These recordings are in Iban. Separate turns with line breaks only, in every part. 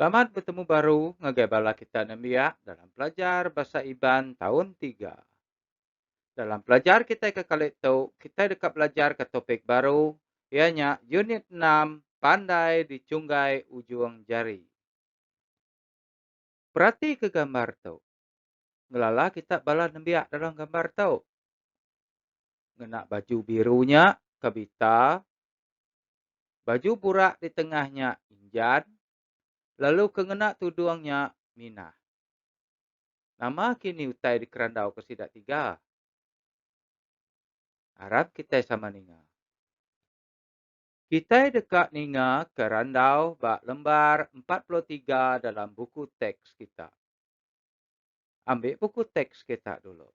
Selamat betemu baru ngagai bala kita nembiak dalam pelajar Bahasa Iban taun tiga. Dalam pelajar kitai ke kali tu, kitai deka belajarka topik baru iya nya Unit enam Pandai Dichunggai Ujung Jari. Peratika gambar tu. Ngelala kita bala nembiak dalam gambar tu. Ngena baju biru nya Kavita, baju burak di tengah nya Injan lalu ke ngena tudung nya Minah. Nama kini utai dikerandauka sida tiga? Arap kitai sama ninga. Kitai deka ningaka randau ba lembar empat puluh tiga dalam buku teks kita. Ambi buku teks kita dulu.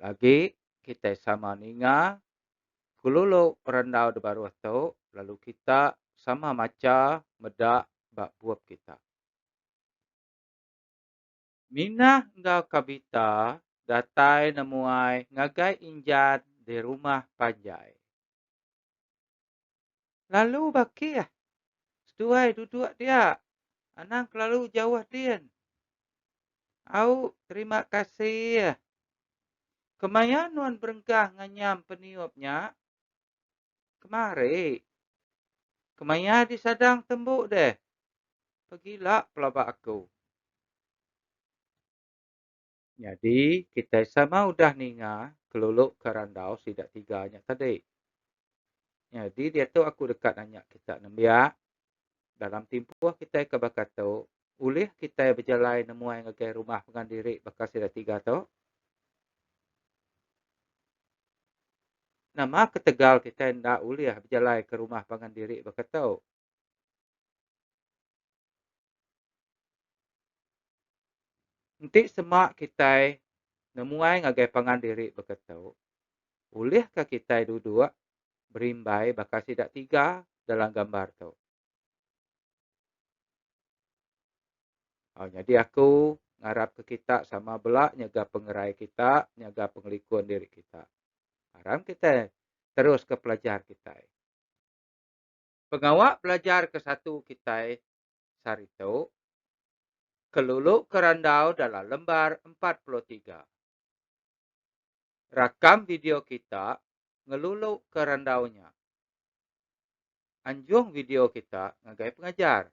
Lagi, kitai sama ninga kelulu randau di baruh tu lalu kita sama macha meda ba bup kita. Minah enggau Kavita datai nemuai ngagai Injan di rumah panjai. Lalu bakih. Seduai duduk dia. Anang kelalu jauh din. Au terima kasih. Kemaya nuan berenggah nganyam peniup nya? Kemari. Kemaya disadang tembu deh. Pegila pelaba aku. Nyadi kitai sama udah ninga kelulu ke randau sida tiga nya tadi. Nyadi diatu aku deka nanya kita nembiak Dalam timpuh kitai ke baka tu, ulih kitai bejalai nemuai ngagai rumah pengan diri baka sida tiga tu? Nama ketegal kitai enda ulih bejalai ke rumah pengan diri baka tu? Enti sema kitai nemuai ngagai pengan diri baka tu, ulihka kitai duduk berimbai baka sida tiga dalam gambar tu. Au nyadi aku ngarap ke kita sama bela nyaga pengerai kita, nyaga pengelikun diri kita. Aram kita terus ke pelajar kita. Pengawa pelajar ke satu kita sari tu kelulu ke randau dalam lembar 43. Rakam video kita ngelulu ke randau nya. Anjung video kita ngagai pengajar.